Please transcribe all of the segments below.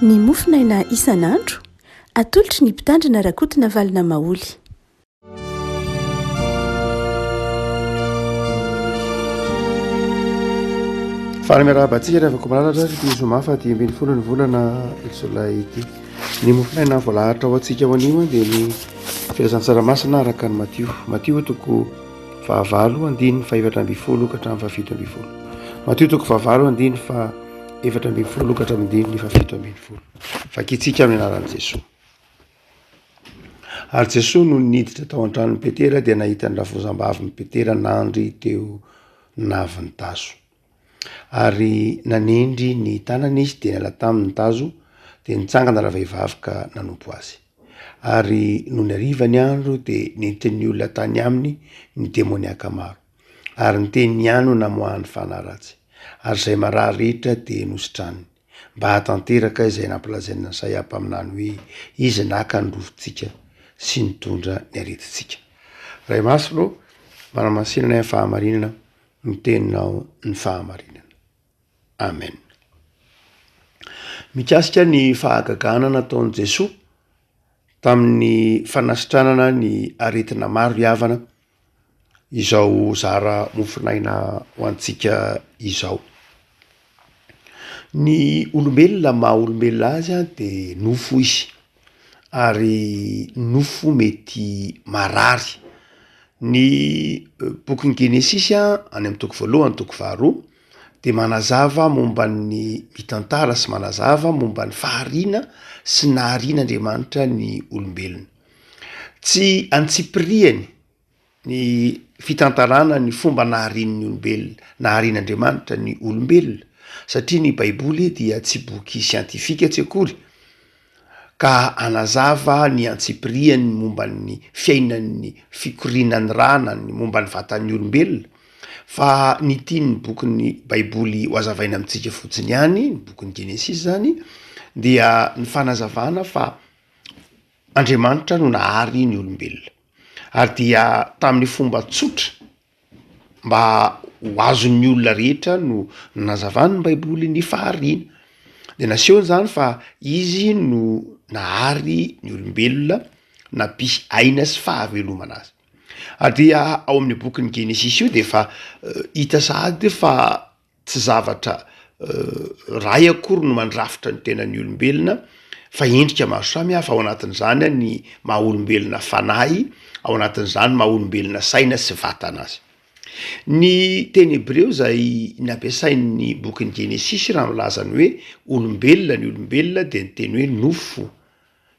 Ny mofo naina isan'andro, atolotry ny Mpitandrina Rakotonavalona Maholy. Fara miarahaba antsika ry havako malalatra ary ity zoma fa dimy ambin'ny folo ny volana jolay ity. Ny mofonaina voalahatra ho antsika ho anio dia ny filazantsaramasina araka ny Matio. Matio toko fahavalo andininy fahefatra ambin'ny folo ka hatramin'ny fahafito ambin'ny folo. Matio toko fahavalo andininy fahefatra ambin'ny folo ka hatramin'ny andininy fahafito ambin'ny folo. Vakitsika amin'ny anaran'i Jesoa. Ary Jesoa no niditra tao an-tranon'i Petera dia nahita ny rafozambaviny Petera nandry teo navin-taso. Ary nanendry ny tanany izy dia niala taminy ny tazo, dia nitsangana ravehivavy ka nanompo azy. Ary nony hariva ny andro dia nentin'ny olona tany aminy ny demoniaka maro, ary ny teniny ihany no namoahany fanahy ratsy, ary izay marary rehetra dia nositraniny, mba hahatanteraka izay nampilazain'i Nasaia mpaminany hoe, Izy naka ny rovintsika sy nitondra ny aretintsika. Ray Masina ô, manamasinana ny fahamarinana. Ny teninao ny fahamarinana. Amen. Mikasika ny fahagagana nataon'i Jesoa tamin'ny fanasitranana ny aretina maro hiavana izao zara mofon'aina ho antsika izao. Ny olombelona maha olombelona azy dia nofo izy. ary nofo mety marary. Ny bokin'ny Genesisy any amin'ny toko voalohany toko faharoa dia manazava momba ny mitantara sy manazava momba ny fahariana sy naharian'Andriamanitra ny olombelona. Tsy antsipirihany. ny fitantarana ny fomba naharian'ny olombelona, naharian'Andriamanitra ny olombelona, satria ny Baiboly dia tsy boky siantifika tsy akory, ka hanazava ny antsipiriany momba ny fiainan'ny fikorianan'ny ra na ny momba ny vatan'ny olombelona, fa ny tian'ny bokin'ny Baiboly ho azavaina amintsika fotsiny ihany, ny bokin'ny Genesisy izany, dia ny fanazavana fa Andriamanitra no nahary ny olombelona. ary dia tamin'ny fomba tsotra mba ho azon'ny olona rehetra no nazavan'ny baiboly ny fahariana dia nasehony izany fa izy no nahary ny olombelona nampisy aina sy fahavelomana azy ary dia ao amin'ny bokin'ny genesisy io dia efa eh, hita sahady fa Tsy zavatra iray akory no mandrafitra ny tenan'ny olombelona fa endrika maro samihafa, ao anatin'izany ny maha olombelona fanahy, ao anatin'izany maha olombelona saina sy vatana azy. Ny teny hebreo izay nampiasain'ny bokin'ny Genesisy raha milaza ny hoe olombelona ny olombelona dia ny teny hoe nofo,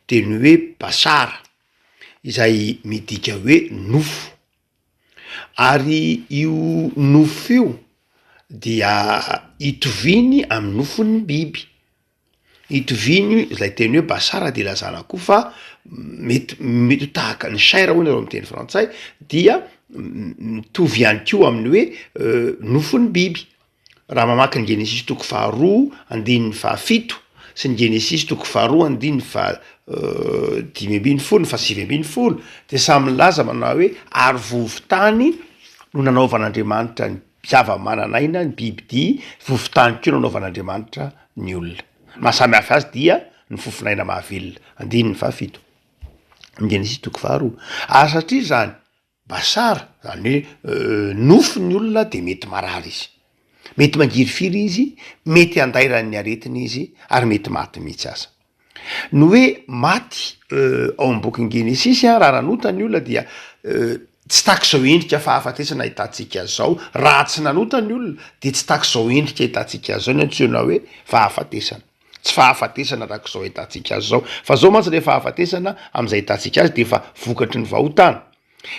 teny hoe bashar, izay midika hoe nofo. Ary io nofo io dia itoviany amin'ny nofon'ny biby. Itoviany, izay teny hoe basar dia ilazana koa fa mety mety ho tahaka ny chair hono eo amin'ny teny frantsay dia mitovy ihany koa amin'ny hoe nofon'ny biby. Raha mamaky ny Genesisy toko faharoa andininy fahafito sy ny Genesisy toko faharoa andininy fahadimy ambin'ny folo ny fahasivy ambin'ny folo dia samy milaza manao hoe ary vovontany no nanaovan'Andriamanitra ny zava-manan'aina, ny bibidia, vovontany koa no nanaovan'Andriamanitra ny olona. Ny maha samy hafa azy dia ny fofon'aina mahavelona, andininy fahafito, ny Genesisy toko faharoa. Ary satria izany, Basar, zany hoe nofy ny olona dia mety marary izy. Mety mangirifiry izy, mety handairany ny aretina izy ary mety maty mihitsy aza. Ny hoe maty ao amin'ny bokin'i Genesisy raha nanota ny olona dia tsy tak'izao endrika fahafatesana ahitantsika zao, raha tsy nanota ny olona dia tsy tak'izao endrika ahitantsika zao ny antsoina hoe fahafatesana. Tsy fahafatesana tahaka izao ahitantsika azy izao. Fa izao mantsy ilay fahafatesana amin'izay ahitantsika azy dia efa vokatry ny vahotana.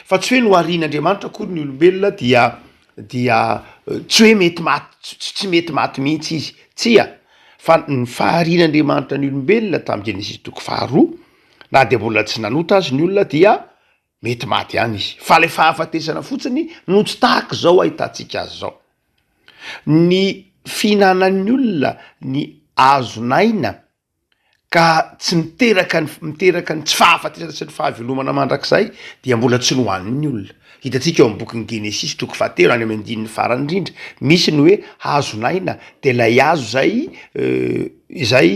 Fa tsy hoe noharian'Andriamanitra akory ny olombelona dia dia tsy hoe mety maty tsy mety maty mihitsy izy. Tsia, fa ny faharian'Andriamanitra ny olombelona tamin'ny Genesisy toko faharoa na dia mbola tsy nanota azy ny olona dia Mety maty ihany izy fa ilay fahafatesana fotsiny no tsy tahaka izao ahitantsika azy izao. Ny fihinanan'ny olona ny hazon'aina ka tsy miteraka ny miteraka ny tsy fahafatesana sy ny fahavelomana mandrakizay dia mbola tsy nohanin'ny olona. Hitantsika eo amin'ny bokin'ny Genesisy toko fahatelo any amin'ny andininy farany indrindra misy ny hoe hazon'aina dia ilay hazo izay izay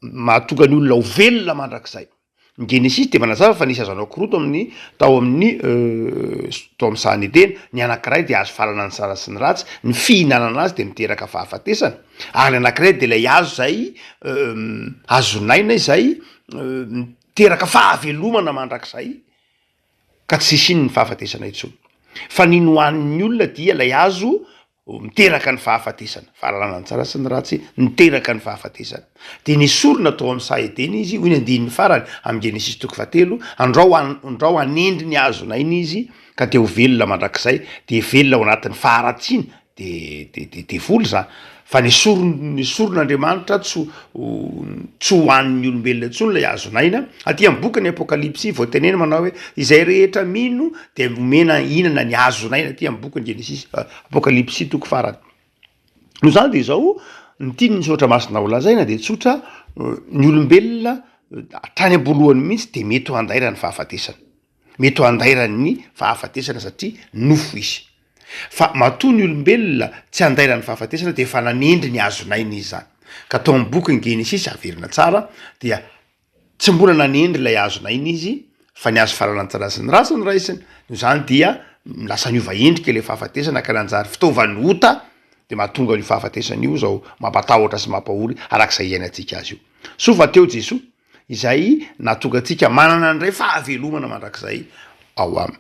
mahatonga ny olona ho velona mandrakizay. Ny Genesisy dia manazava fa nisy azo anao korontana amin'ny tao amin'ny tao amin'ny sahan'ny Edena, ny anankiray dia hazo fahalalana ny tsara sy ny ratsy, ny fihinanana azy dia miteraka fahafatesana, ary ny anankiray dia ilay hazo izay hazon'aina izay miteraka fahavelomana mandrakizay ka tsy hisian'ny fahafatesana intsony. Fa ny nohanin'ny olona dia ilay hazo ho miteraka ny fahafatesana, fahalalana ny tsara sy ny ratsy niteraka ny fahafatesana. Dia nesorina tao amin'ny saha Edena izy, hoy ny andininy farany amin'ny Genesisy toko fahatelo, Andrao, andrao hanendry ny hazon'aina izy, ka dia ho velona mandrakizay, dia hivelona ao anatin'ny faharatsiana, dia, dia, dia devoly izany, fa nesoriny, nesorin'Andriamanitra tsy ho, ho, tsy ho an'ny olombelona intsony ilay hazon'aina, aty amin'ny bokin'ny Apokalypsy voatenena manao hoe, Izay rehetra mino Dia nomena hihinana ny hazon'aina aty amin'ny bokin'i Genesisy, Apokalypsy toko farany. Noho izany dia izao ny tian'ny soratra masina holazaina dia tsotra, ny olombelona hatrany am-boalohany mihitsy dia mety ho andairan'ny fahafatesana. Mety ho andairan'ny fahafatesana satria nofo izy. Fa matoa ny olombelona tsy andairan'ny fahafatesana dia efa nanendry ny hazon'aina izy izany. Ka tao amin'ny bokin'i Genesisy, averina tsara, dia Tsy mbola nanendry ilay hazo naina izy fa ny hazo farany tsara sy ny ratsy no raisiny, noho izany dia lasa niova endrika ilay fahafatesana ka nanjary fitaovan'ny ota dia mahatonga an'io fahafatesana io izao mampatahotra sy mampahory araka izay iainantsika azy io. Soa fa teo Jesoa izay nahatonga antsika manana indray fahavelomana mandrakizay ao Aminy.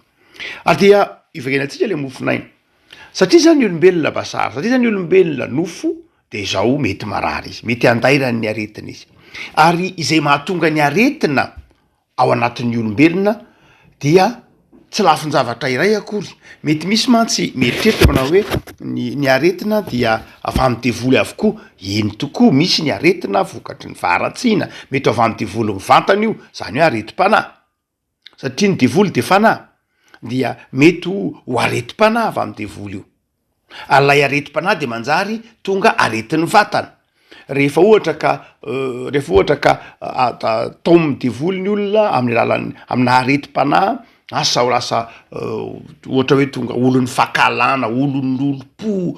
Ary dia ivaginatsika ilay mofon'aina. Satria izany ny olombelona basary, satria izany ny olombelona nofo, Dia izao mety marary izy, mety handairany ny aretina izy. Ary izay mahatonga ny aretina ao anatin'ny olombelona dia tsy lafin-javatra iray akory. Mety misy mantsy mieritreritra manao hoe ny ny aretina dia avy amin'ny devoly avokoa. Eny tokoa, misy ny aretina vokatry ny faharatsiana, mety ho avy amin'ny devoly mivantana io, izany hoe aretim-panahy. satria ny devoly dia fanahy dia mety ho ho aretim-panahy avy amin'ny devoly io, ary ilay aretim-panahy dia manjary tonga aretin'ny vatana, rehefa ohatra ka rehefa ohatra ka atao amin'ny devoly ny olona amin'ny alalan'ny amina aretim-panahy asa ho lasa ohatra hoe tonga olon'ny fankahalana, olon'ny olom-po,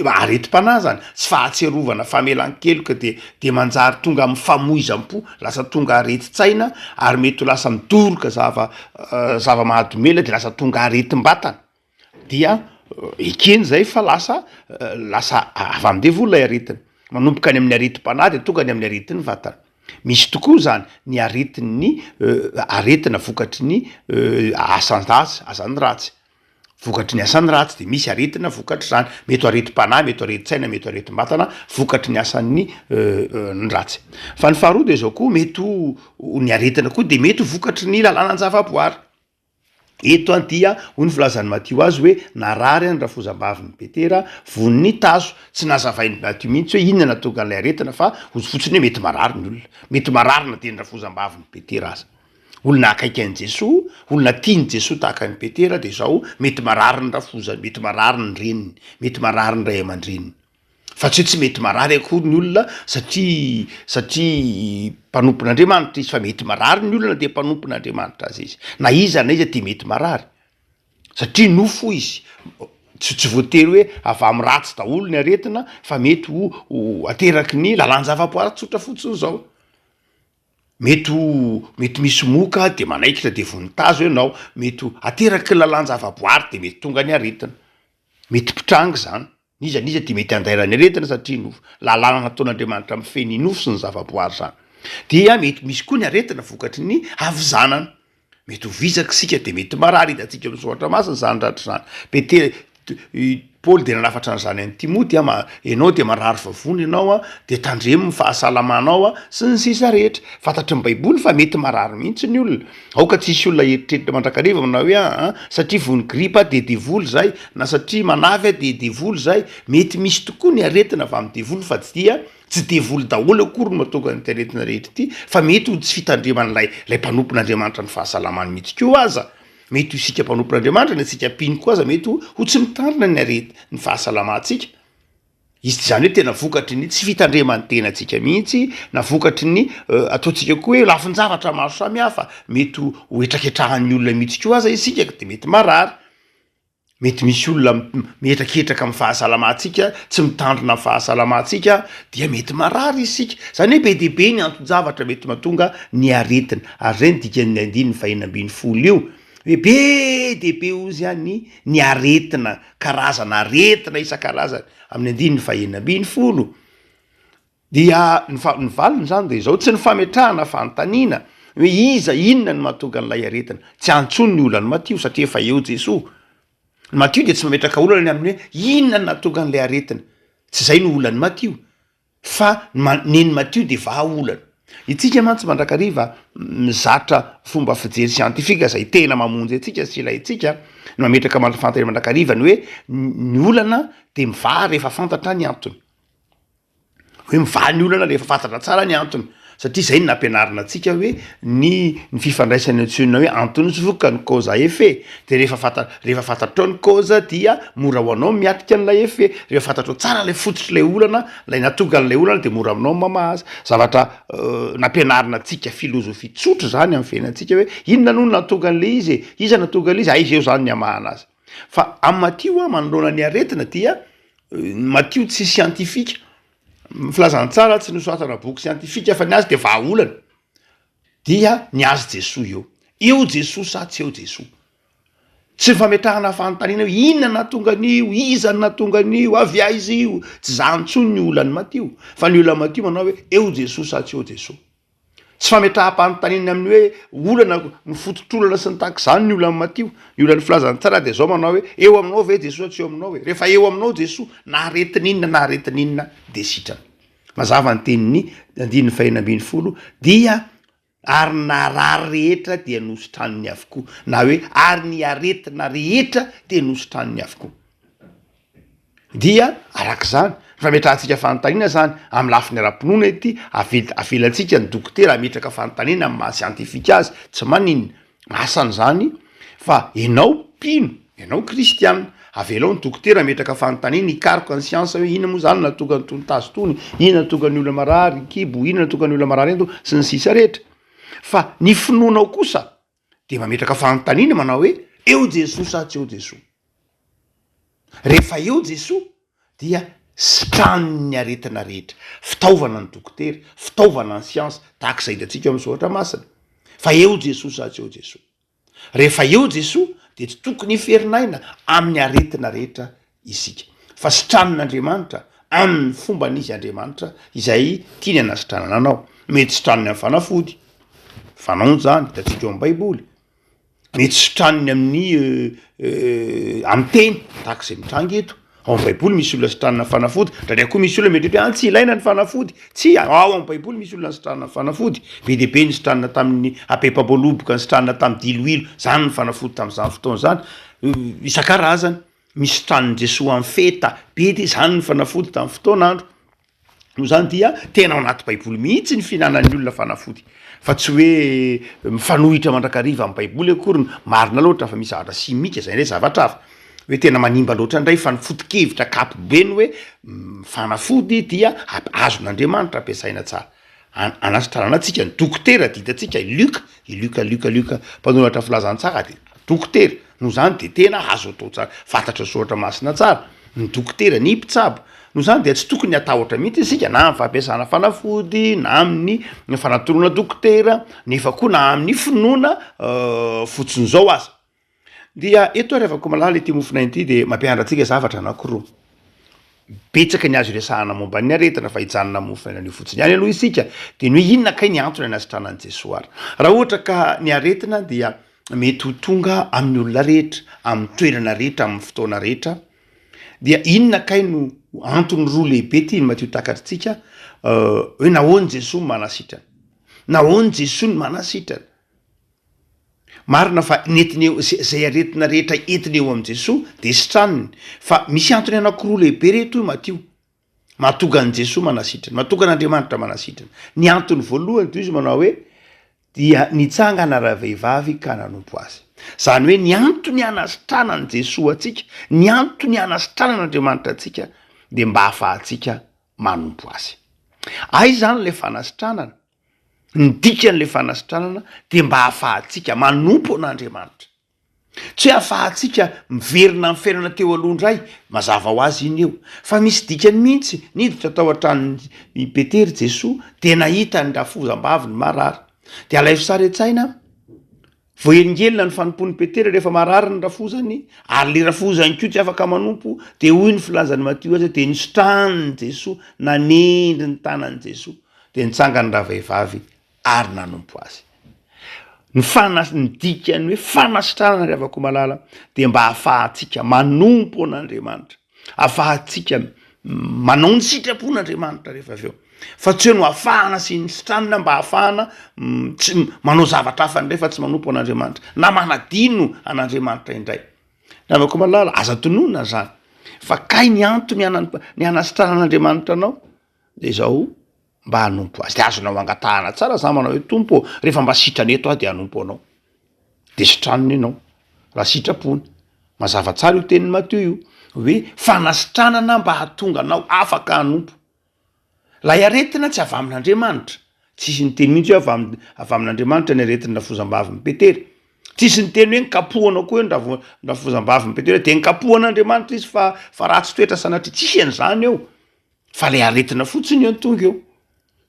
aretim-panahy zany, tsy fahatsiarovana, famelan-keloka dia dia manjary tonga amin'ny famoizam-po lasa tonga aretin-tsaina ary mety ho lasa midoroka zava zava-mahadomelina de lasa tonga aretim-batana dia ekeny zay fa lasa lasa avy amin'ny devoly ilay aretina manomboka any amin'ny aretim-panahy de tonga any amin'ny aretin'ny vatana misy tokoa zany ny aretin'ny aretina vokatry ny asan-dratsy azan'ny ratsy Vokatry ny asany ratsy dia misy aretina vokatr'izany, mety ho aretim-panahy, mety ho aretin-tsaina, mety ho aretim-batana vokatry ny asan'ny ny ratsy. Fa ny faharoa dia izao koa, mety ho ny aretina koa dia mety ho vokatry ny lalàna an-javaboary. Eto dia hoy ny filazan'i Matio azy hoe narary ny rafozambavin'i Petera von'ny tazo, tsy nazavain'i Matio mihitsy hoe inona no nahatonga an'ilay aretina fa hozy fotsiny hoe mety marary ny olona, mety marary na dia ny rafozambavin'i Petera aza. Olona akaiky an'i Jesoa, olona tian'i Jesoa tahaka an'i Petera dia izao, mety marary ny rafozany, mety marary ny reniny, mety marary ny ray aman-dreniny. Fa tsy hoe tsy mety marary akory ny olona satria satria mpanompon'Andriamanitra izy fa mety marary ny olona dia mpanompon'Andriamanitra aza izy. Na iza na iza dia mety marary. Satria nofo izy, tsy tsy voatery hoe avy amin'ny ratsy daholo ny aretina fa mety ho ateraky ny lalan-javaboary tsotra fotsiny izao. Mety ho mety misy moka dia manaikitra dia vonitazo ianao, mety ho ateraky ny lalan-javaboary dia mety tonga ny aretina. Mety mpitranga izany, n'iza n'iza dia mety handaira ny aretina satria nofo, lalàna nataon'Andriamanitra mifehy ny nofo sy ny zavaboary izany. Dia mety misy koa ny aretina vokatry ny havizanana, Mety ho vizaka isika dia mety marary hitantsika ny Soratra Masina izany ratra izany. Petera, Paoly dia nanafatra an'izany an'i Timoty, ianao dia marary vavony ianao dia tandremo ny fahasalamanao sy ny sisa rehetra. Fantatry ny Baiboly fa mety marary mihitsy ny olona. Aoka tsy hisy olona hieritreritra mandrakariva manao hoe, Aa, satria voan'ny gripa aho dia devoly izay, na satria manafy aho dia devoly izay. Mety misy tokoa ny aretina avy amin'ny devoly fa tsy dia Tsy devoly daholo akory no mahatonga an'ity aretina rehetra ity fa mety ho tsy fitandreman'ilay ilay mpanompon'Andriamanitra ny fahasalamany mihitsy koa aza. Mety ho isika mpanompon'Andriamanitra na isika mpino koa aza mety ho ho tsy mitandrina ny arety ny fahasalamantsika. Izy tsy izany hoe tena vokatry ny tsy fitandreman'ny tenantsika mihitsy na vokatry ny ataontsika koa hoe lafin-javatra maro samihafa. Mety ho ho hetraketrahan'ny olona mihitsy koa aza isika ka dia mety marary. mety misy olona mihetraketraka amin'ny fahasalamantsika, tsy mitandrina ny fahasalamantsika dia mety marary isika. Izany hoe be dia be ny anton-javatra mety mahatonga ny aretina ary izay no dikan'ny andininy fahenina ambin'ny folo io hoe be dia be hozy ihany ny aretina, karazana aretina isan-karazany amin'ny andininy fahenina ambin'ny folo. Dia ny ny valiny izany dia izao, tsy ny fametrahana fanontaniana hoe iza, inona no mahatonga an'ilay aretina. Tsy any intsony ny olan'i Matio satria efa eo Jesoa. Ny Matio dia tsy mametraka olana ny amin'ny hoe inona no nahatonga an'ilay aretina. Tsy izay no olan'i Matio fa nen'i Matio dia vahaolana. Itsika mantsy mandrakariva mizatra fomba fijery siantifika izay tena mamonjy antsika sy ilaintsika ny mametraka fanontaniana mandrakariva ny hoe ny olana dia mivaha rehefa fantatra ny antony. hoe mivaha ny olana rehefa fantatra tsara ny antony satria zay no nampianarina antsika hoe ny ny fifandraisana antsoina hoe antony sy vokany cause à effet de rehefa fanta- rehefa fantatrao ny cause dia mora ho anao ny miatrika an'ilay effet rehefa fantatrao tsara ilay fototr'ilay olana ilay nahatonga an'ilay olana dia mora aminao ny mamaha azy zavatra nampianarina antsika filozofia tsotra izany amin'ny fiainantsika hoe inona no nahatonga an'ilay izy e iza nahatonga an'ilay izy aiza eo izany ny hamahana azy Fa am matio a manoloana ny aretina dia ny matio tsy siantifika ny filazany tsara tsy nosoratana boky siantifika fa ny azy dia vahaolana dia ny azy jesoa eo eo jesoa sa tsy eo jesoa tsy ny fametrahana fanontaniana hoe inona nahatonga an'io iza no nahatonga an'io avy aiza io tsy zany intsony ny olan'ny matio fa ny olan'ny matio manao hoe eo jesoa sa tsy eo jesoa Tsy fametraham-panontaniana amin'ny hoe olana no fototr'olana sy ny tahaka izany ny olan'ny matio. Ny olan'ny filazan'ny tsara dia izao manao hoe, eo aminao ve Jesoa tsy eo aminao ve? Rehefa eo aminao Jesoa, na aretin'inona na aretin'inona dia sitrana. Mazava ny tenin'ny andininy fahenina ambin'ny folo dia ary ny naharary rehetra dia nositraniny avokoa na hoe ary ny aretina rehetra dia nositraniny avokoa. Dia araka izany, fametrahantsika fanontaniana izany amin'ny lafiny ara-pinoana ity, avelantsika ny dokotera hametraka fanontaniana amin'ny maha siantifika azy, tsy manin asany izany fa ianao mpino, ianao kristiana, avelao ny dokotera hametraka fanontaniana, hikaroka ny siansa hoe inona moa izany no nahatonga itony tazo itony, inona no nahatonga ny olona marary kibo, inona no nahatonga ny olona marary ento, sy ny sisa rehetra. Fa ny finoanao kosa dia mametraka fanontaniana manao hoe eo Jesoa sa tsy eo Jesoa? Rehefa eo Jesoa dia sitraniny ny aretina rehetra, fitaovana ny dokotera, fitaovana ny siansa, tahaka izay hitantsika ao amin'ny soratra masina fa eo Jesoa sa tsy eo Jesoa? Rehefa eo Jesoa dia tsy tokony hiferinaina amin'ny aretina rehetra isika, fa sitranin'Andriamanitra amin'ny fombany izy Andriamanitra izay tiany hanasitranana anao. Mety sitraniny amin'ny fanafody, fanao izany, hitantsika eo amin'ny Baiboly. Mety sitraniny amin'ny amin'ny teny, tahaka izay mitranga eto. Ao amin'ny Baiboly misy olona sitranina amin'ny fanafody, ndraindray koa misy olona mieritreritra hoe any tsy ilaina ny fanafody. Tsia, ao amin'ny Baiboly misy olona nisitranina amin'ny fanafody, be dia be ny sitranina tamin'ny habem-pamboaloboka, nisitranina tamin'ny diloilo, izany ny fanafody tamin'izany fotoana izany, isan-karazany. nisitran'i Jesoa ho an'ny feta be dia izany ny fanafody tamin'ny fotoan'andro. Noho izany dia tena ao anaty Baiboly mihitsy ny fihinanan'ny olona fanafody fa tsy hoe mifanohitra mandrakariva amin'ny Baiboly akory ny marina loatra fa misy zavatra simika izay indray zavatra hafa. Hoe tena manimba loatra indray fa ny foto-kevitra ankapobeny hoe fanafody dia azon'Andriamanitra ampiasaina tsara. An, anasitrana tsika ny dokotera dia hitantsika i Luc, i Luc, Luc, Luc mpanoratra filazantsara dia dokotera, noho izany dia tena azo atao tsara, fantatry ny soratra masina tsara ny dokotera, ny mpitsabo, noho izany dia tsy tokony hatahotra mihitsy isika na amin'ny fampiasana fanafody na amin'ny fanatoroana dokotera nefa koa na amin'ny finoana fotsiny izao aza. Dia eto ary Avakomalala ity mofonay ity dia mampianatra antsika zavatra anankiroa. Betsaka ny azo iresahana momba ny aretina fa hijanona amin'ny mofon'aina anio fotsiny ihany aloha isika dia ny hoe inona kay ny antony anasitranan'i Jesoa ary. Raha ohatra ka ny aretina dia mety ho tonga amin'ny olona rehetra, amin'ny toerana rehetra, amin'ny fotoana rehetra, dia inona kay no antony roa lehibe tiany Matio takatritsika hoe nahoany Jesoa manasitrana? Nahoany Jesoa ny manasitrana? Marina fa nentiny eo izay aretina rehetra entiny eo amin'i Jesoa dia sitraniny, fa misy antony anankiroa lehibe reto hoy Matio mahatonga an'i Jesoa manasitrana, mahatonga an'Andriamanitra manasitrana. Ny antony voalohany toy izy manao hoe dia nitsangana ravehivavy ka nanompo azy. Izany hoe ny antony anasitranan'i Jesoa antsika, ny antony anasitranan'Andriamanitra antsika dia mba hahafahantsika manompo azy. Aiza izany ilay fanasitranana? Ny dikan'ilay fanasitranana dia mba hahafahantsika manompo an'Andriamanitra. Tsy hoe hahafahantsika miverina amin'ny fiainana teo aloha indray, mazava ho azy iny eo, fa misy dikany mihitsy, niditra tao an-tranon'i Petera i Jesoa dia nahita ny rafozambaviny marary. Dia alaivo sary an-tsaina Voahelingelina ny fanompoan'i Petera rehefa marary ny rafozany, ary ilay rafozy ihany koa tsy afaka manompo, dia hoy ny filazan'i Matio azy, dia nisitrahan'i Jesoa, nanendry ny tanan'i Jesoa, dia nitsangany ravehivavy ary nanompo Azy. Ny fanas, ny dikan'ny hoe fanasitranana ry havako malala dia mba ahafahantsika manompo an'Andriamanitra. Afahantsika manao ny sitrapon' Andriamanitra rehefa avy eo, fa tsy hoe no afahana sy misitranina mba hahafahana tsy manao zavatra hafa indray fa tsy manompo an' Andriamanitra na manadino an' Andriamanitra indray. Namako malala, aza tononina izany fa kay ny antony ny hanasitranan'Andriamanitra anao dia izao. Mba hanompo Azy. Dia azonao angatahana tsara zany manao hoe, Tompo ô, rehefa mba sitrany eto aho dia hanompo Anao. Dia sitraniny ianao, raha sitrapony. Mazava tsara io tenin'i Matio io, hoe fanasitranana mba hahatonga anao afaka hanompo. Ilay aretina tsy avy amin'Andriamanitra. Tsisy niteny mihitsy hoe avy amin'ny, avy amin'Andriamanitra ny aretin'ny rafozambavin'i Petera. Tsisy niteny hoe nkapohana koa ny ravo, ny rafozambavin'i Petera, dia nkapohan'Andriamanitra izy fa, fa ratsy toetra sanatria. Tsisy an'izany eo. Fa le aretina fotsiny eo no tonga eo.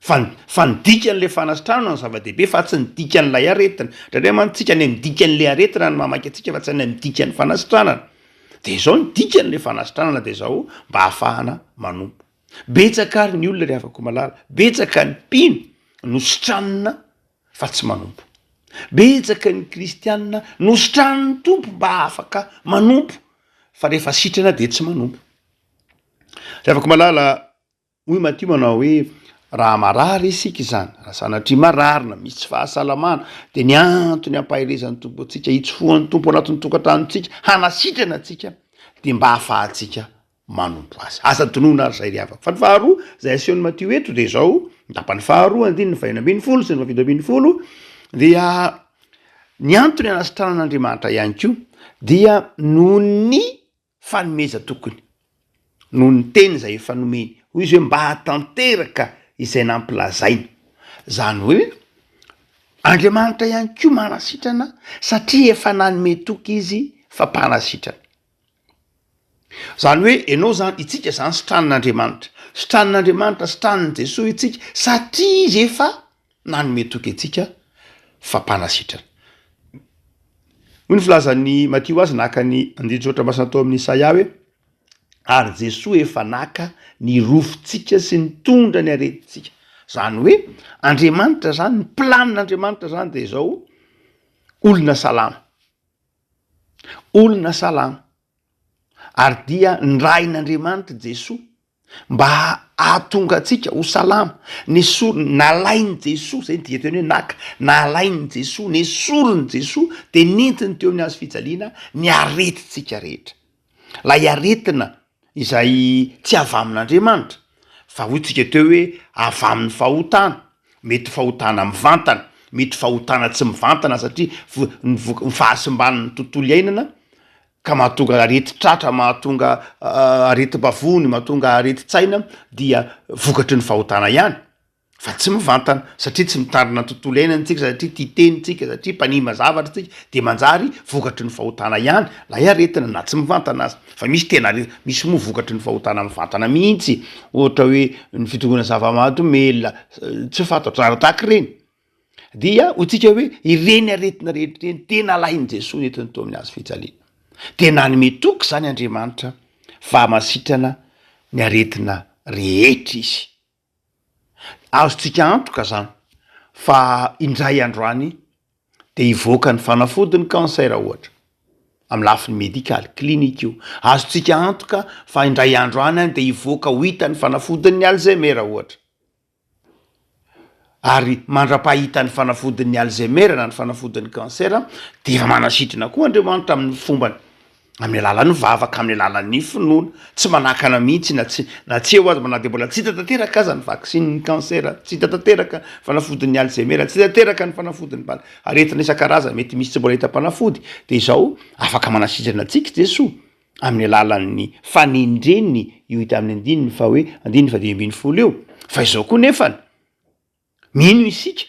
Fa ny, fa ny dikan'le fanasitrahana no zava-dehibe fa tsy ny dikan'ilay aretina. Indraindray mantsy tsika any amin'ny dikan'le aretina no mamaky antsika fa tsy any amin'ny dikan'ny fanasitranana. De izao ny dikan'le fanasitranana de izao mba ahafahana manompo. Betsaka ary ny olona ry havako malala, betsaka ny mpino no sitranina fa tsy manompo. Betsaka ny kristiana nositranin'ny Tompo mba afaka manompo fa rehefa sitrana de tsy manompo. Ry havako malala, hoy Matio manao hoe, Raha marary isika izany, raha sanatria marary na misy tsy fahasalamana, dia ny antony hampaherezan'ny Tompo antsika, hitsofohan'ny Tompo ao anatin'ny tokantranontsika, hanasitrana antsika, dia mba hahafahantsika manompo Azy. Aza adinoina ary izay ry havako. Fa ny faharoa izay asehon'i Matio eto dia izao, ny tapany faharoa, andininy fahenina ambin'ny folo sy ny fahafito ambin'ny folo, dia ny antony hanasitranan'Andriamanitra ihany koa dia noho ny fanomeza tokony noho ny teny izay efa nomeny, hoy izy hoe mba hahatanteraka izay nampilazaina. Izany hoe Andriamanitra ihany koa manasitrana satria efa nanome toky izy fa mpanasitrana. Izany hoe ianao izany, itsika izany sitranin'Andriamanitra. Sitranin'Andriamanitra, sitranin'i Jesoa itsika satria izy efa Nanome toky antsika fampanasitrana. Hoy ny filazan'i Matio azy naka ny andinin-tsoratra masina tao amin'i Isaia hoe, Ary Jesoa efa naka ny rofintsika sy nitondra ny aretintsika. Izany hoe Andriamanitra izany, ny planin'Andriamanitra izany dia izao, olona salama. Olona salama. ary dia nirahin'Andriamanitra Jesoa mba hahatonga antsika ho salama, nesoriny, nalain'i Jesoa, izay no dikateny hoe naka, nalain'i Jesoa, nesorin'i Jesoa, dia nentiny teo amin'ny hazo fijaliana ny aretintsika rehetra, ilay aretina izay tsy avy amin'Andriamanitra, fa hoy tsika teo hoe avy amin'ny fahotana, Mety fahotana mivantana, mety fahotana tsy mivantana satria ny voka- ny fahasimban'ny tontolo iainana ka mahatonga aretin-tratra, mahatonga aretim-bavony, mahatonga aretin-tsaina dia vokatry ny fahotana ihany fa tsy mivantana satria tsy mitandrina ny tontolo iainana isika, satria tia tena isika, satria mpanimba zavatra isika dia manjary vokatry ny fahotana ihany ilay aretina na tsy mivantana aza. Fa misy tena re, misy moa vokatry ny fahotana mivantana mihitsy, ohatra hoe ny fidorohana zava-mahadomelina tsy fantatra ary tahaka ireny. Dia hoy tsika hoe ireny aretina rehetra ireny tena alahin'i Jesoa nentiny tao amin'ny hazo fijaliana. Dia nanome toky izany Andriamanitra fa hamasitrana ny aretina rehetra izy. Azontsika antoka izany fa indray andro any dia hivoaka ny fanafody ny cancer ohatra, amin'ny lafiny medikaly, clinique-o. Azontsika antoka fa indray andro any dia hivoaka ho hita ny fanafodin'ny alzheimer ohatra. Ary mandra-pahitan'ny fanafodin'ny alzheimer na ny fanafodin'ny cancer dia manasitrana koa Andriamanitra amin'ny fombany amin'ny alalan'ny vavaka, amin'ny alalan'ny finoana, tsy manakana mihitsy na tsy na tsy eo aza na dia mbola tsy hita tanteraka aza ny vaksinin'ny cancer, tsy hita tanteraka fanafodin'ny alzheimer, tsy hita tanteraka ny fanafodin'ny bala, aretina isan-karazany mety misy tsy mbola hita mpanafody dia izao afaka manasitrana antsika Jesoa amin'ny alalan'ny fanendreny io hita amin'ny andininy faharoa, andininy fahadimy ambin'ny folo io fa izao koa nefany, Mino isika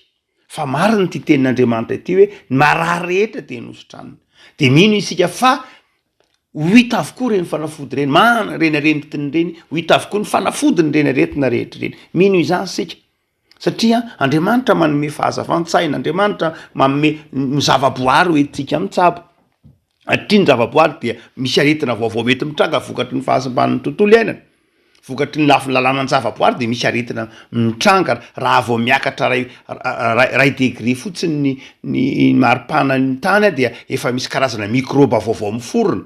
fa marina ity tenin'Andriamanitra ity hoe ny marary rehetra dia nositraniny. Dia mino isika fa ho hita avokoa ireny fanafody ireny, marina ireny aretin ireny, ho hita avokoa ny fanafody ireny aretina rehetra ireny. Mino izany isika satria Andriamanitra manome fahazavan-tsaina, Andriamanitra manome ny zavaboary hoentintsika mitsabo. Hatria ny zavaboary dia misy aretina vaovao mety mitranga vokatry ny fahasimban'ny tontolo iainana. Vokatry ny lafiny lalànan'ny zavaboary dia misy aretina mitranga raha vao miakatra ray ray degré fotsiny ny ny maripana ny tany dia efa misy karazana mikrôba vaovao miforona,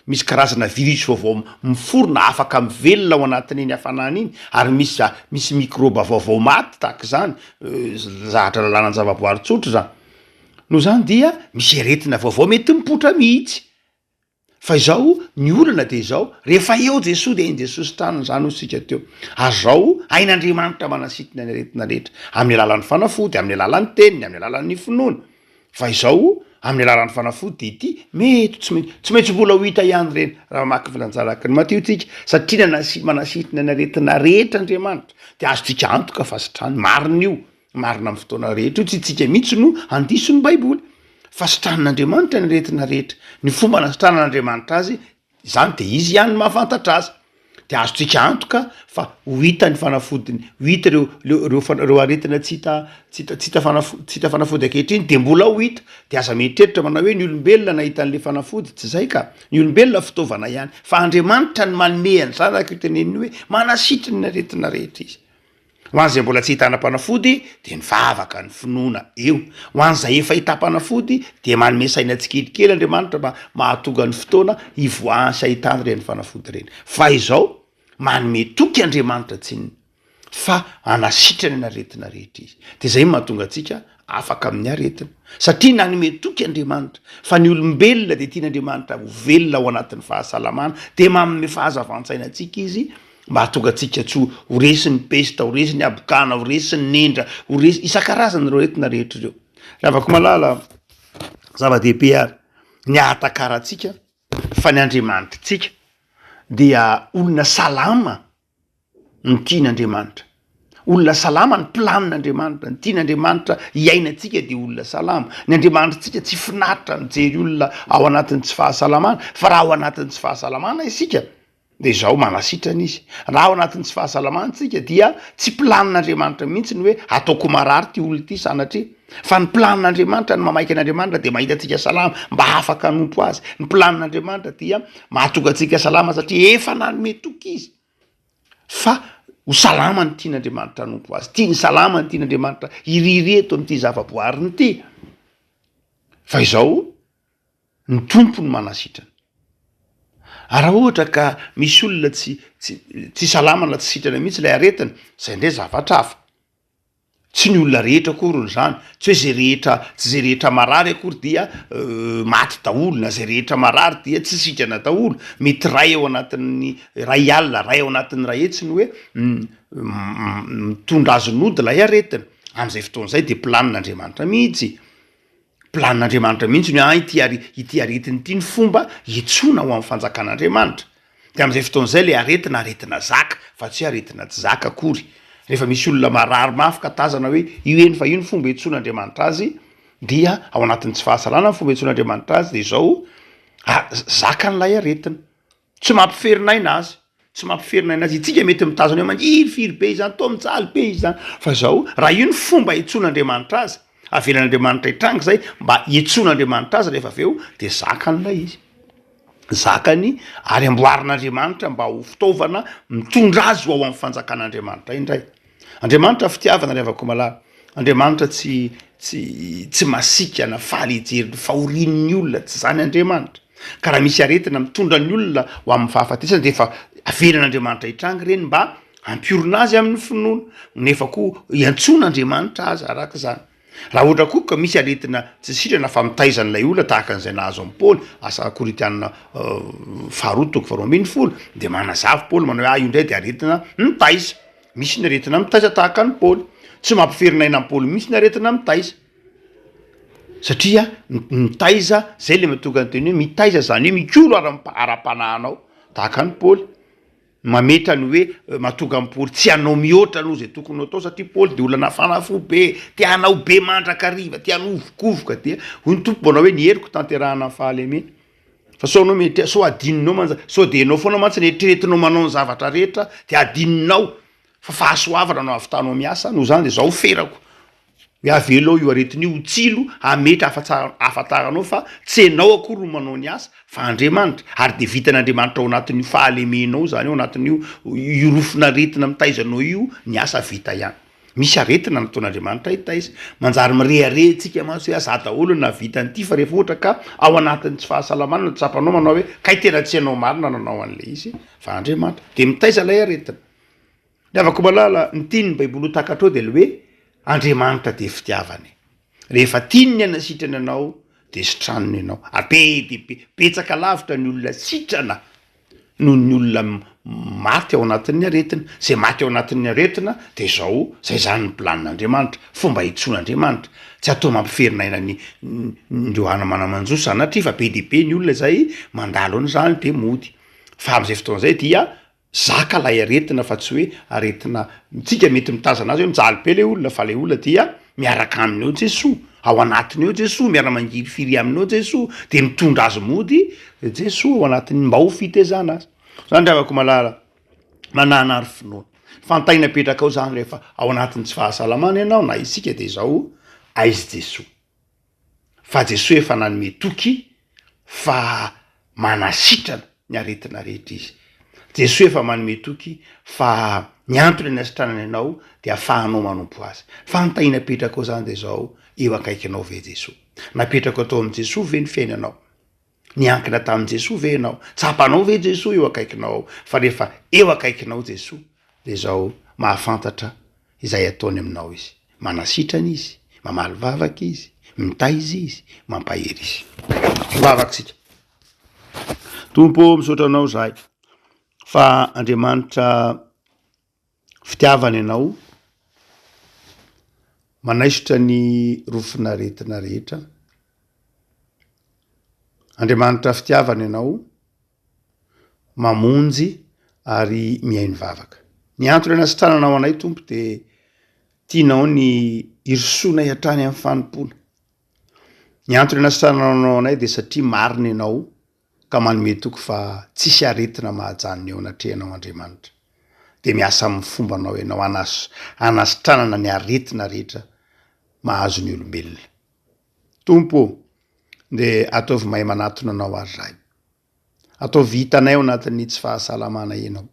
misy karazana virus vaovao miforona afaka mivelona ao anatin'iny hafanana iny ary misy za misy mikrôba vaovao maty tahaka izany zahatra lalànan'ny zavaboary tsotra izany. Noho izany dia misy aretina vaovao mety mipoitra mihitsy. Fa izao ny olana dia izao, rehefa eo Jesoa dia eny Jesoa sitrana, izany hoy isika teo. Ary izao, hain'Andriamanitra manasitona ny aretina rehetra, amin'ny alalan'ny fanafody, amin'ny alalan'ny teniny, amin'ny alalan'ny finoana. Fa izao, amin'ny alalan'ny fanafody dia ity, mety tsy mety, tsy maintsy mbola ho hita ihany ireny, raha mamaky ny filanjara araka ny Matio isika, satria nanasi, manasitona ny aretina rehetra Andriamanitra, dia azontsika antoka fa sitrany, marina io. Marina amin'ny fotoana rehetra io, tsy isika mihitsy no handiso ny Baiboly fa sitranin'Andriamanitra ny aretina rehetra, ny fomba nasitranan'Andriamanitra azy izany dia izy ihany no mahafantatra azy, dia azontsika antoka fa ho hita ny fanafodiny, ho hita ireo ireo ireo aretina tsy hita tsy hita tsy hita fanafody tsy hita fanafody ankehitriny dia mbola ho hita, dia aza mieritreritra manao hoe ny olombelona nahita an'ilay fanafody, tsy izay ka, ny olombelona fitaovana ihany fa Andriamanitra no manome an'ny zanaka io teneniny hoe manasitra ny aretina rehetra izy. Ho an'izay mbola tsy ahitana mpanafody dia mivavaka ny finoana eo. Ho an'izay efa ahitana mpanafody dia manome saina tsikelikely Andriamanitra mba mahatonga ny fotoana hivoahany sy ahitany ireny fanafody ireny. Fa izao, manome toky Andriamanitra tsinona fa hanasitrana ny aretina rehetra Izy. Dia izay no mahatonga antsika afaka amin'ny aretina. Satria nanome toky Andriamanitra fa ny olombelona dia tian'Andriamanitra ho velona ao anatin'ny fahasalamana dia manome fahazavan-tsaina antsika Izy, Mba hahatonga antsika tsy ho resin'ny pesta, ho resin'ny habokana, ho resin'ny nendra, ho resy isan-karazany ireo aretina rehetra ireo. Ravako malala, zava-dehibe ary ny ahatakarantsika fa ny Andriamanitritsika dia olona salama no tian'Andriamanitra. Olona salama ny planin'Andriamanitra, ny tian'Andriamanitra hiainantsika dia olona salama. Ny Andriamanitritsika tsy finaritra mijery olona ao anatin'ny tsy fahasalamana, fa raha ao anatin'ny tsy fahasalamana isika, Dia izao, manasitrana izy. Raha ao anatin'ny tsy fahasalamana isika dia tsy planin'Andriamanitra mihitsy ny hoe ataoko marary ity olona ity sanatria. Fa ny planin'Andriamanitra, ny mamaika an'Andriamanitra dia mahita antsika salama mba hafaka hanompo Azy. Ny planin'Andriamanitra dia mahatonga antsika salama satria efa nanome toky Izy fa ho salama ny tian'Andriamanitra hanompo Azy. Tiany salama ny tian'Andriamanitra hiriry eto amin'ity zavaboariny ity. Fa izao, Ny Tompo no manasitrana. Ary raha ohatra ka misy olona tsy tsy salama na tsy sitrana mihitsy ilay aretina, izay indray zavatra hafa. Tsy ny olona rehetra akory izany, tsy hoe izay rehetra, tsy izay rehetra marary akory dia maty daholo na izay rehetra marary dia tsy sitrana daholo. Mety iray ao anatin'ny iray alina, iray ao anatin'ny iray hetsy no hoe mitondra azy nody ilay aretina. Amin'izay fotoana izay dia planin'Andriamanitra mihitsy. Planin'Andriamanitra mihitsy ny ity ary ity aretina ity ny fomba hiantsoana ho amin'ny fanjakan'Andriamanitra. Dia amin'izay fotoana izay ilay aretina aretina zaka fa tsy hoe aretina tsy zaka akory. Rehefa misy olona marary mafy ka tazana hoe io eny fa io ny fomba iantsoan'Andriamanitra azy dia ao anatin'ny tsy fahasalana ny fomba iantsoan'Andriamanitra azy dia izao, ah, zakan'ilay aretina. Tsy mampiferin'aina azy, tsy mampiferin'aina azy. Itsika mety mitazana eo maniry firy be izany, toa mijaly be izy izany. Fa izao, raha io ny fomba hiantsoan'Andriamanitra azy, avelan'Andriamanitra hitranga izay mba hiantsoan'Andriamanitra azy rehefa avy eo, dia zakany ilay izy. Zakany ary amboarin'Andriamanitra mba ho fitaovana mitondra azy ho ao amin'ny fanjakan'Andriamanitra indray. Andriamanitra fitiavana ry havako malala, Andriamanitra tsy tsy tsy masiaka na faly hijery ny fahorian'ny olona, tsy izany Andriamanitra. Ka raha misy aretina mitondra ny olona ho amin'ny fahafatesana dia efa avelan'Andriamanitra hitranga ireny mba hampiorina azy amin'ny finoana, nefa koa hiantsoana Andriamanitra aza araka izany. Raha ohatra koa ka misy aretina tsy sitrana fa mitaiza an'ilay olona tahaka an'izay nahazo an'i Paoly, Asa Korintiana faharoa toko faharoa ambin'ny folo, dia manazava i Paoly manao hoe, ahy io indray dia aretina mitaiza. Misy ny aretina mitaiza tahaka an'i Paoly. Tsy mampiferinaina an'i Paoly mihitsy ny aretina mitaiza. Satria mitaiza, izay ilay mahatonga ny teny hoe mitaiza, izany hoe mikolo ara-panahinao tahaka an'i Paoly. Mametra ny hoe matonga an'i Paoly tsy hanao mihoatra noho izay tokony ho atao, satria Paoly dia olona nafana fo be, te hanao be mandrakariva, te hanovokovoka, dia hoy ny Tompo, manao hoe, ny heriko tanterahana ny fahalemena, fa sao ianao mieritreritra, sao hadinonao mantsy, sao dia ianao foana mantsy no eritreretinao manao ny zavatra rehetra, dia hadinonao fa fahasoavana no hahavitanao miasa, noho izany dia izao ferako, Hoe avelao io aretina io ho tsilo hametra ahafantaranao fa tsy enao akory no manao ny asa fa Andriamanitra ary dia vitan'Andriamanitra ao anatin'io fahalemenao izany ao anatin'io io rofon'aretina mitaiza anao io ny asa vita ihany. Misy aretina nataon'Andriamanitra hitaiza. Manjary mirehareha antsika mantsy hoe aza daholo ny nahavita an'ity fa rehefa ohatra ka ao anatin'ny tsy fahasalamana no tsapanao manao hoe kay tena tsy enao marina nanao an'ilay izy fa Andriamanitra dia mitaiza ilay aretina. Ny havako malala ny tiany ny baiboly ho takatrao dia le hoe Andriamanitra dia fitiavana e! Rehefa tiany ny aina sitrany anao dia sitraniny ianao ary be dia be betsaka lavitra ny olona sitrana noho ny olona maty ao anatin'ny aretina, zay maty ao anatin'ny aretina dia zao zay zany ny plan Andriamanitra, fomba hitsoan Andriamanitra, tsy atao mampiferina aina ny ndreo ana mana manjo sanatria fa be dia be ny olona zay mandalo an'izany dia mody fa amzay fotoana zay dia Zaka ilay aretina fa tsy hoe aretina mitsika mety mitazana azy hoe mijaly be ilay olona fa ilay olona dia miaraka aminy ao Jesoa, ao anatiny ao Jesoa, miara mangirifiry aminy ao Jesoa dia mitondra azy mody Jesoa ao anatiny mba ho fitezana azy. Zany ry havako malala manana ary finoana. Fantaina apetraka ao zany rehefa ao anatiny tsy fahasalamana ianao na isika dia izao aizy Jesoa. fa Jesoa efa nanome toky fa manasitrana ny aretina rehetra Izy. Jesoa efa manome toky fa ny antony anasitranany anao dia afahanao manompo Azy. Fa ny tahiana apetrakao izany dia izao, eo akaikinao ve Jesoa? Napetrakao tao amin'i Jesoa ve ny fiainanao? Niankina tamin'i Jesoa ve ianao? Tsapanao ve Jesoa eo akaikinao ao? Fa rehefa eo akaikinao Jesoa dia izao mahafantatra izay ataony aminao Izy. Manasitrana Izy, mamaly vavaka Izy, mitaiza Izy, mampahery Izy. Mivavaka isika. Tompo ô, misaotra Anao izahay fa Andriamanitra Fitiavana ianao, manaisotra ny rofin'aretina rehetra. Andriamanitra fitiavana ianao, mamonjy ary mihaino vavaka. Ny antony anasitrananao anay Tompo dia tianao ny hirosoanay hatrany amin'ny fanompoana. Ny antony anasitrananao anay dia satria marina ianao. ka manome toky fa tsisy aretina mahajanona eo anatrehanao Andriamanitra, dia miasa amin'ny fombanao ianao hanasitranana ny aretina rehetra mahazo ny olombelona. Tompo ô, dia ataovy mahay manatona Anao àry izahay. Ataovy hitanay ao anatin'ny tsy fahasalamanay Ianao.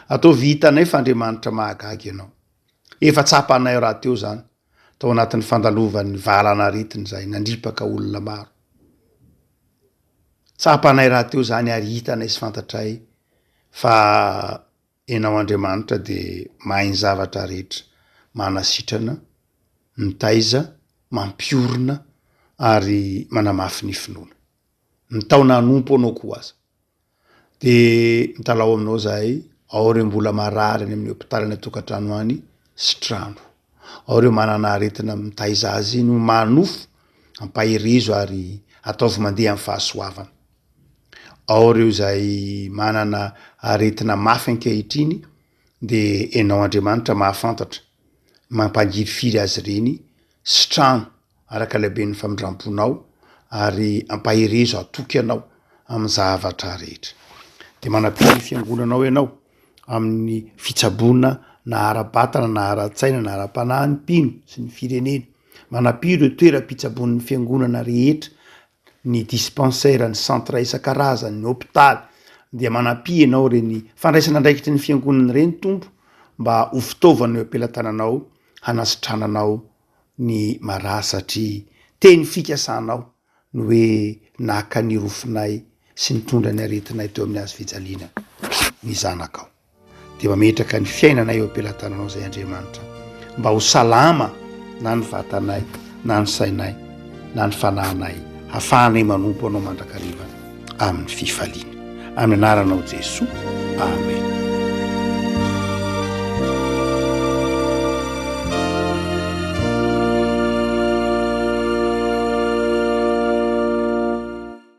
Ataovy hitanay fa Andriamanitra mahagaga Ianao. Efa tsapanay rahateo izany, tao anatin'ny fandalovan'ny valan'aretina izay nandripaka olona maro. Tsapanay rahateo izany ary hitanay sy fantatray fa ianao Andriamanitra dia mahay ny zavatra rehetra, manasitrana, mitaiza, mampiorina ary manamafy ny finoana. mitaona hanompo anao koa aza. Dia mitalaho aminao zahay, ao ireo mbola marary any amin'ny hopitaly any an-tokantrano any, sitrano. Ao ireo manana aretina mitaiza azy no manofo, ampaherezo ary ataovy mandeha amin'ny fahasoavana. Ao ireo izay manana aretina mafy ankehitriny, dia ianao Andriamanitra mahafantatra, mampangirifiry azy ireny, sitrano. araka ny haben'ny famindram-ponao ary ampaherezo hatoky anao amin'ny zavatra rehetra. Dia manapia ny fiangonanao ianao amin'ny fitsaboana na ara-batana na ara-tsaina na ara-panahy ny mpino sy ny firenena. Manapia ireo toeram-pitsaboan'ny fiangonana rehetra, ny dispensaire, ny centre isan-karazany, ny hopitaly. Dia manapia ianao ireny fandraisana andraikitry ny fiangonana ireny Tompo mba ho fitaovana eo am-pelatananao hanasitrananao ny marary satria teny fikasanao ny hoe naka ny rofinay sy nitondra ny aretinay teo amin'ny hazo fijaliana ny zanakao dia mametraka ny fiainanay eo am-pelatananao izay Andriamanitra mba ho salama na ny vatanay na ny sainay na ny fanahinay hafahanay manompo anao mandrakariva amin'ny fifaliana. Amin'ny anaranao Jesoa, amen.